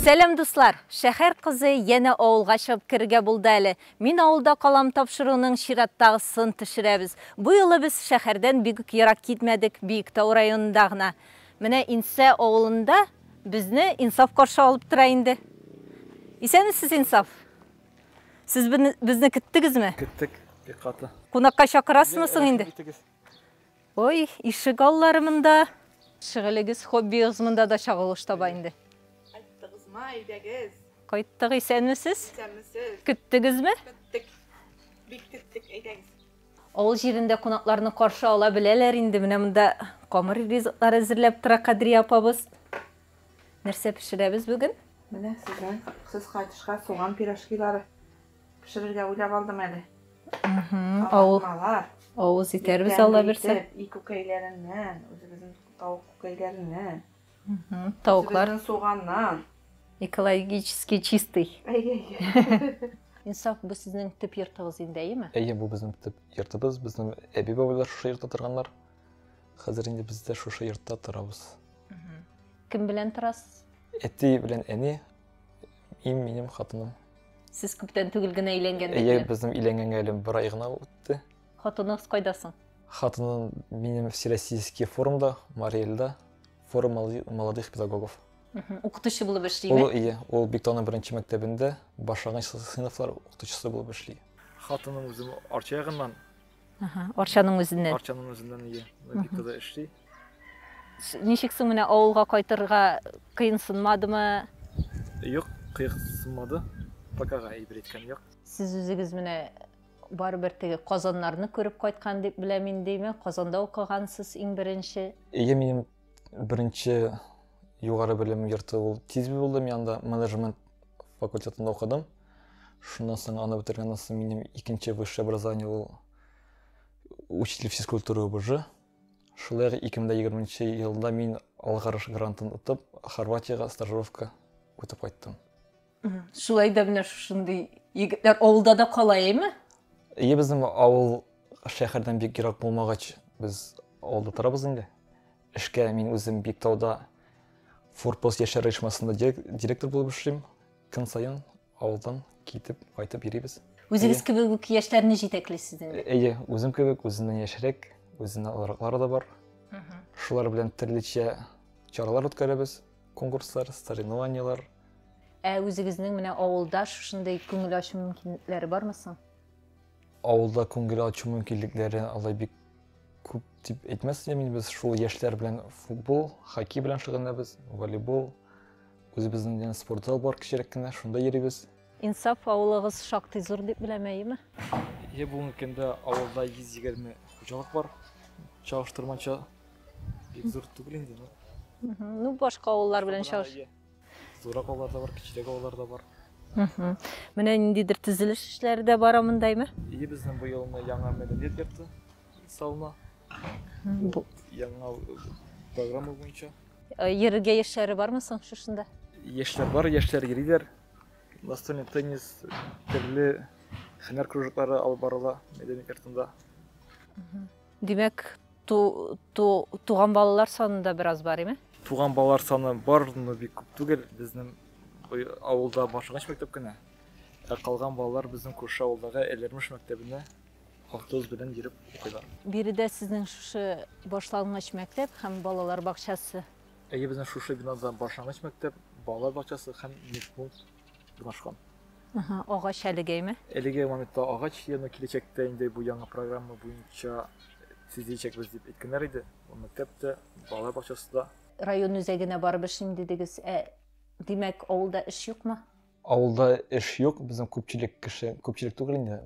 Сәлам дуслар! Шәһәр кызы янә авылга чыгып керергә булды әле. Мин авылда калам тапшыруның чираттагысын төшерәбез. Бу юлы без шәһәрдән бик үк ерак китмәдек, Биектау районында гына. Менә Инсә авылында безне Инсаф каршы алып тора инде. Исәнмесез, Инсаф! Сез безне көттегезме? Көттек, бик каты. Кунакка чакырасызмы соң инде? Ой, ишек аллары монда. Шөгылегез, хоббигыз монда да чагылыш таба инде. Кайттыгызмы, әйдәгез. Кайттык, исәнмесез? Исәнмесез. Көттегезме? Көттек. Бик көттек, әйдәгез. Авыл җирендә кунакларны каршы ала беләләр инде. Менә монда камыр ризыклар әзерләп тора Кадрия апабыз. Нәрсә пешерәбез бүген? Менә сезнең сыз кайтышка суган пирожкилары. Пешерергә уйлап алдым әле. Кабармалар. Авыз итәрбез Алла бирсә. И күкәйләреннән, үзебезнең тавык күкәйләреннән. Тавыклар. Үзебезнең суганнан. Экологически чистый. Әйе. Инсаф, бу сезнең төп йортыгыз инде, әйеме? Әйе, бу безнең төп йортыбыз. Безнең әби-бабайлар шушы йортта торганнар. Хәзер инде без дә шушы йортта торабыз. Кем белән торасыз? Әти белән әни, Им минем хатыным. Сез күптән түгел генә өйләнгән бит. Әйе, безнең өйләнгәнгә әле бер ай гына үтте. Хатыныгыз кайда соң? Хатыным минем всероссийский форумда, Мариэльда, форум молодых педагогов. Укытучы булып эшлиме? Ул ие, ул Биктауның беренче мәктәбендә башлангыч сыйныфлар укытучысы булып эшли. Хатыным үзем Арча ягыннан. Арчаның үзеннән. Арчаның үзеннән ие. Биктауда эшли. Ничек соң менә авылга кайтырга кыенсынмадымы? Юк, кыенсынмады. Покага әйбер әйткән юк. Сез үзегез менә барыбер теге Казаннарны күреп кайткан дип беләм инде, әйме? Казанда укыгансыз иң беренче. Әйе, минем беренче югары белем йорты ул Тизби булды. Мин анда менеджмент факультетында укыдым. Шуннан соң аны бетергәннән соң минем икенче высшее образование ул учитель физкультуры УБЖ. Шулай ук 2020 нче елда мин Алгарыш грантын отып, Хорватиягә стажировка үтеп кайттым. Шулай да менә шушындый егетләр авылда да кала, әйме? Әйе, безнең авыл шәһәрдән бик ерак булмагач, без авылда торабыз инде. Эшкә мин үзем Биктауда Форпост яшьләр оешмасында директор булып эшлим. Көн саен авылдан китеп, кайтып йөрибез. Үзегез кебек үк яшьләрне җитәклисез инде. Әйе, үзем кебек, үзеннән яшьрәк, үзеннән олыраклары да бар. Шулар белән төрлечә чаралар үткәрәбез, конкурслар, соревнованиелар. Ә үзегезнең менә авылда шушындый күңел ачу мөмкинлекләре бармы соң? Авылда күңел ачу мөмкинлекләре алай бик күп дип әйтмәс идем. Без шул яшьләр белән футбол, хоккей белән шөгыльләнәбез, волейбол, Үзебезнең дигән спорт зал бар кечерәк кенә, шунда йөрибез. Инсаф авылыгыз шактый зур дип беләм, әйеме? Е, бүгенге көндә авылда 120 хуҗалык бар. Чагыштырмача бик зур түгел инде. Ну, башка авыллар белән чагыш. Зурак авыллар да бар, кечерәк авыллар да бар. Менә ниндидер төзелеш эшләре дә бара мондаймы? Е, безнең быелны яңа мәдәният йорты салына. Бу яңа программа буенча. Йөрергә яшьләре бармы соң шушында? Яшьләр бар, яшьләр йөриләр. Настольный теннис, төрле һөнәр кружоклары алып барыла мәдәният йортында. Димәк, туган балалар саны да бераз бар, име? Туган балалар саны бар, но бик күп түгел. Безнең авылда башлангыч мәктәп кенә. Ә калган балалар безнең күрше авылдагы Әләрмеш мәктәбенә Автобус белән йөреп укыйлар. Биредә сезнең шушы башлангыч мәктәп һәм балалар бакчасы. Әйе, безнең шушы бинада башлангыч мәктәп, балалар бакчасы һәм медпункт урнашкан. Ага, агач әлегәйме? Әлеге моментта агач, яно киләчәктә инде бу яңа программа буенча төзиячәкбез дип әйткәннәр иде. Мәктәп тә, балалар бакчасы да. Район үзәгенә барып эшлим дидегез. Ә, димәк, авылда эш юкмы? Авылда эш юк, безнең күпчелек кеше, күпчелек түгел инде,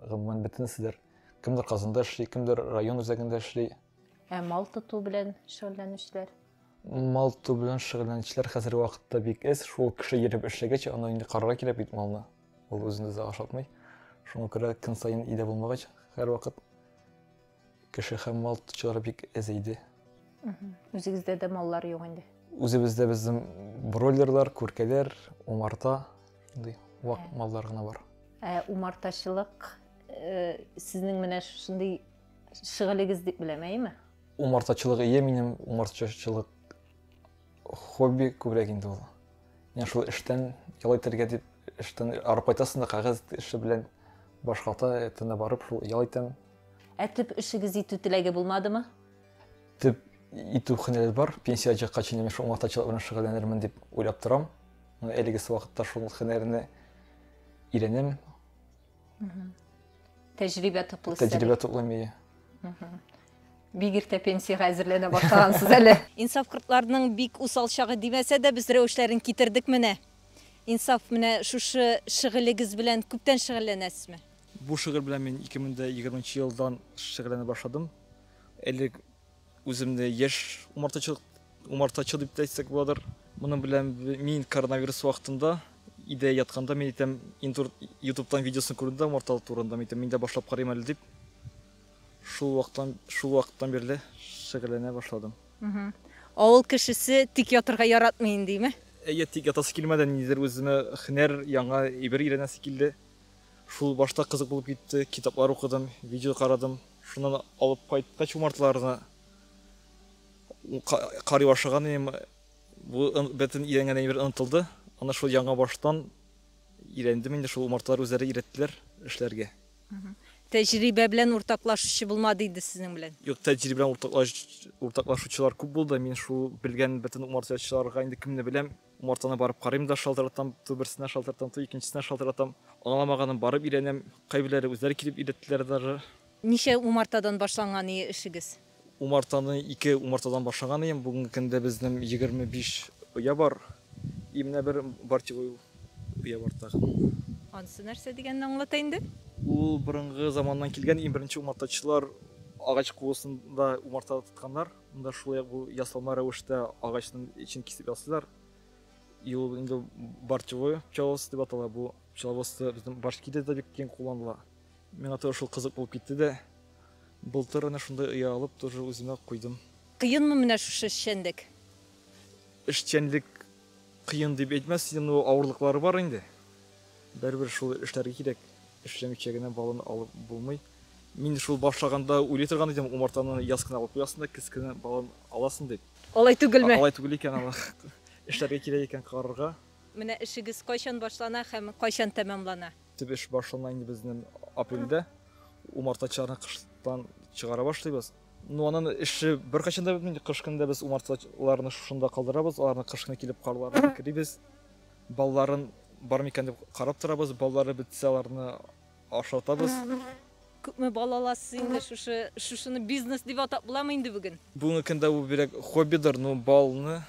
гомумән бөтенеседер. Кемдер Казанда эшли, кемдер район үзәгендә эшли. Ә мал тоту белән шөгыльләнүчеләр? Мал тоту белән шөгыльләнүчеләр хәзерге вакытта бик эз. Шул кеше йөреп эшләгәч, аны инде карарга кирәк бит малны. Ул үзен үзе ашатмый. Шуңа күрә көн саен өйдә булмагач, һәрвакыт Кеше һәм мал тотучылар бик әз иде. Үзегездә дә маллар юк инде. Үзебездә безнең бройлерлар, күркәләр, умарта, инде вак ә. маллар гына бар. Ә умартачылык э, сезнең менә шушындый шөгылегез дип беләм, әйеме? Умартачылык ие минем, умартачылык хобби күбрәк инде ул. Менә шул эштән ял итәргә дип эштән арып кайтасың да кәгазь эше белән башкалта этенә барып шул ял итәм Ә төп эшегез итү теләге булмадымы? Төп итү хөнәре бар. Пенсия чыкка чейин мин шул матачылык белән шөгыльләнермен дип уйлап торам. Әлегесе вакытта шул хөнәрне өйрәнәм. Тәҗрибә туплыйсыз. Тәҗрибә туплыйм, ие. Бик иртә пенсиягә әзерләнә башлагансыз әле. Инсаф кортларының бик усал чагы димәсә дә, без рәвешләрен китердек менә. Инсаф, менә шушы шөгылегез белән күптән шөгыльләнәсезме? Бу шигырь белән мин 2020 нчы елдан шигырьләнә башладым. Элек үземне яшь умартачы, умартачы дип тә әйтсәк буладыр. Моның белән мин коронавирус вакытында идә ятканда мин әйтәм, интур ютубтан видеосын күрдем дә умартал турында, мин әйтәм, мин дә башлап карыйм әле дип. Шул вакыттан, шул вакыттан бирле шигырьләнә башладым. Авыл кешесе тик ятырга яратмый индиме? Әйе, тик ятасы килмәде, ниндидер үземә һөнәр, яңа әйбер өйрәнәсе килде. Шул башта кызык булып китте, китаплар укыдым, видео карадым. Шуннан алып кайткач умарталарны карый башлаган идем. Бу бөтен өйрәнгән әйбер онытылды. Аны шул яңа баштан өйрәндем инде, шул умарталар үзләре өйрәттеләр эшләргә. Тәҗрибә белән уртаклашучы булмады иде сезнең белән? Юк, тәҗрибә белән уртаклашучылар күп булды. Мин шул белгән бөтен умартачыларга инде кемне беләм, Умартаны барып карыйм да шалтыратам, ту берсенә шалтыратам, ту икенчесенә шалтыратам. Аңламаганын барып өйрәнәм, кайберләре үзләре килеп өйрәттеләр даже. Ничә умартадан башланган ие эшегез? Умартаны ике умартадан башлаган ием, бүгенге көндә безнем егерме биш оя бар, и менә бер бортевой оя бар тагын. Анысы нәрсә дигәнне аңлата инде. Ул борынгы заманнан килгән, иң беренче умартачылар агач куысында умарта тотканнар. Монда шулай ук бу ясалма рәвештә агачның эчен кисеп ясыйлар. И ул инде борчевой пчеловоз дип атала. Бу пчеловоз безнең башкиде дә бик киң кулланыла. Миңа тоже шул кызык булып китте дә. Былтыр әнә шундай оя алып, тоже үземә куйдым. Кыенмы менә шушы эшчәнлек? Эшчәнлек Кыен дип әйтмәс идем, но авырлыклары бар инде. Бәрбер шул эшләргә кирәк. Эшләмичә генә баланы алып булмый. Мин шул башлаганда уйлый торган идем, умартаны яз кына алып куясың да кез кенә балан аласың дип. Алай түгелме? Алай түгел икән аны. Эшләргә кирәк икән карарга. Менә эшегез кайчан башлана һәм кайчан тәмамлана? Төп эш башлана инде безнең апрельдә. Умартачыларны кыштан чыгара башлыйбыз. Ну, анын эше беркайчан да бетмей. Кыш көнендә без умартачыларны шушында калдырабыз, аларны кыш көне килеп карларына керибез. Балларын бар микән дип карап торабыз, баллары бетсә, аларны ашатабыз. Күпме бал аласыз инде шушы? Шушыны бизнес дип атап буламы инде бүген? Бүгенге көндә бу бирәк хоббидыр, ну, балны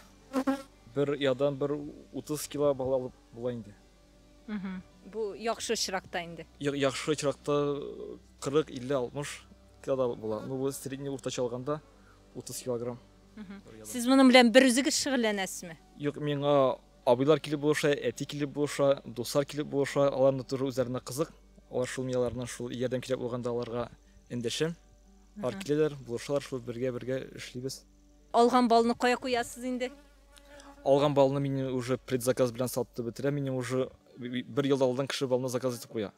бер ядан бер 30 кило бал алып була инде. Бу яхшы очракта инде. Яхшы очракта 40, 50, 60 килограмм була. Ну, бу средний уртача алганда 30 килограмм. Сез моның белән бер үзегез шөгыльләнәсезме? Юк, миңа абыйлар килеп булыша, әти килеп булыша, дуслар килеп булыша, аларны туры үзләренә кызык. Алар шул мияларны шул ярдәм кирәк булганда аларга эндәшәм. Алар киләләр, булышалар, шул бергә-бергә эшлибез. Алган балны кая куясыз инде? Алган балны мин уже предзаказ белән сатты бетерә. Минем уже бер ел алдан кеше балны заказ итеп куя.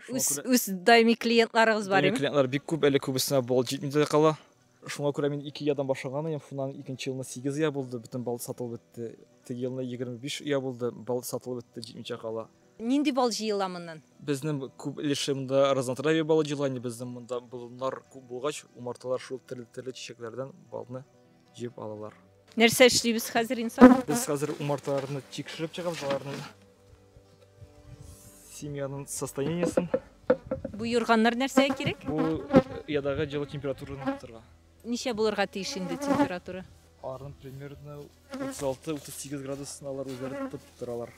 Үз үз даими клиентларыгыз бар ими? Клиентлар бик күп, әле күбесенә бал җитми дә кала. Шуңа күрә мин 2 ядан башлаган идем. Шуннан икенче елны 8 я булды, бөтен бал сатылып бетте. Теге елны 25 я булды, бал сатылып бетте, җитмичә кала. Нинди бал җыела моннан? Безнең күп өлешемдә разнотравье балы җыела. Инде безнең монда болыннар күп булгач, умарталар шул төрле-төрле чәчәкләрдән балны җыеп алалар. Нәрсә эшлибез хәзер инсан? Без хәзер умарталарны тикшереп чыгабыз, аларның семьяның состояниесен. Бу юрганнар нәрсәгә кирәк? Бу э, ядагы җылы температураны тотарга. Ничә булырга тиеш инде температура? Арын примерно 36-38 градусына алар үзләре тотып торалар.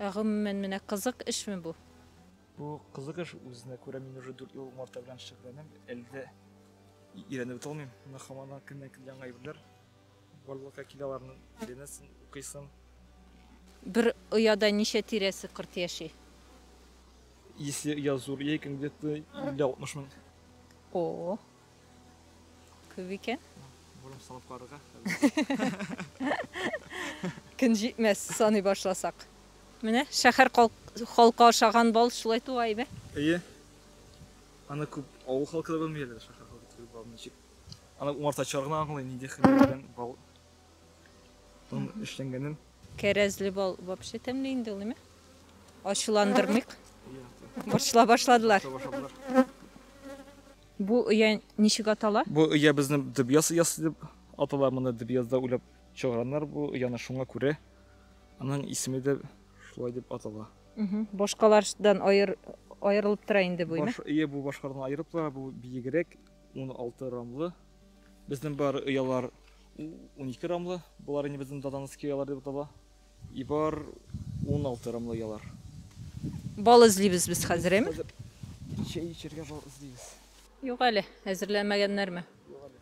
Ә гомумән менә кызык эшме бу? Бу кызык эш үзенә күрә мин уже 4 ел марта белән шөгыльләнәм. Әле дә өйрәнеп бетә алмыйм. Менә һаман да көннән көн яңа әйберләр барлыкка килә аларны өйрәнәсең, укыйсың. Бер ояда ничә тирәсе корт яши? Если я зур, я икән где-то 50-60 мең. О, Күп икән. Бурым салып карарга. Көн җитмәс, саный башласак. Менә шәһәр халкы ашаган бал шулай туа име? Әйе. Аны күп авыл халкы да белми әле шәһәр халкы түгел бал ничек. Аны умартачылар гына аңлый, нинди хәлләр белән бал эшләнгәнен. Кәрәзле бал вообще тәмле инде ул, әйме? Ачуландырмыйк. Борчыла башладылар. Бу оя ничек атала? Бу оя безне Дебьяс оясы дип атала. Моны Дебьязда уйлап чыгарганнар бу ояны шуңа күрә. Аның исеме дә шулай дип атала. Башкалардан аер, аерылып тора инде бу өйме? Баш, ие, бу башкардан аерып тора, бу биегрәк, 16 рамлы. Безнең бар оялар 12 рамлы. Болар инде безнең Дадановский оялар дип атала. И бар ун алты рамлы ялар. Бал эзлибез без хәзер, әйме? Без хәзер чәй эчәргә бал эзлибез. Юк әле, әзерләмәгәннәрме? Юк әле.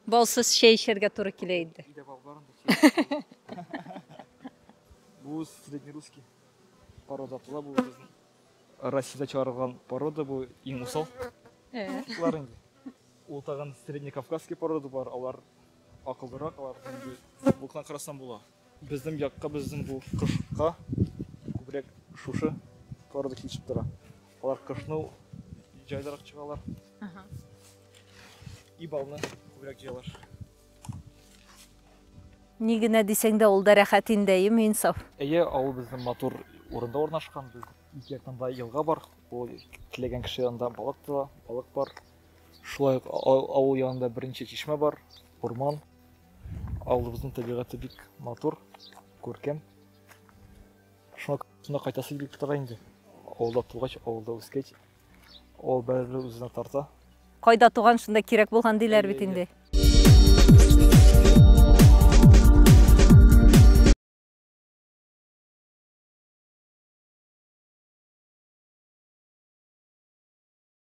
Балсыз чәй эчәргә туры килә инде. Өйдә бал бар инде. Бу среднерусский порода була бу безнең. Россиядә чыгарылган порода бу иң усал. Э. Шулар инде. Ул тагын среднекавказский порода бар, алар акыллырак, алар инде булкына карасам була. Безнең якка, безнең бу кышка күбрәк шушы пара да килешеп тора. Алар кышны җайлырак чыгалар. И балны күбрәк җыялар. Ни генә дисәң дә, ул да рәхәт инде, әйеме, Инсаф? Әйе, авыл безнең матур урында урнашкан. Без ике яктан да елга бар. Ул теләгән кеше янында балык та, балык бар. Шулай ук авыл янында берничә чишмә бар, урман. Авылыбызның табигате бик матур, күркәм. Шуңа күрә кайтасы килеп тора инде. Авылда тугач, авылда үскәч, авыл бәреле үзенә тарта. Кайда туган, шунда кирәк булган диләр бит инде.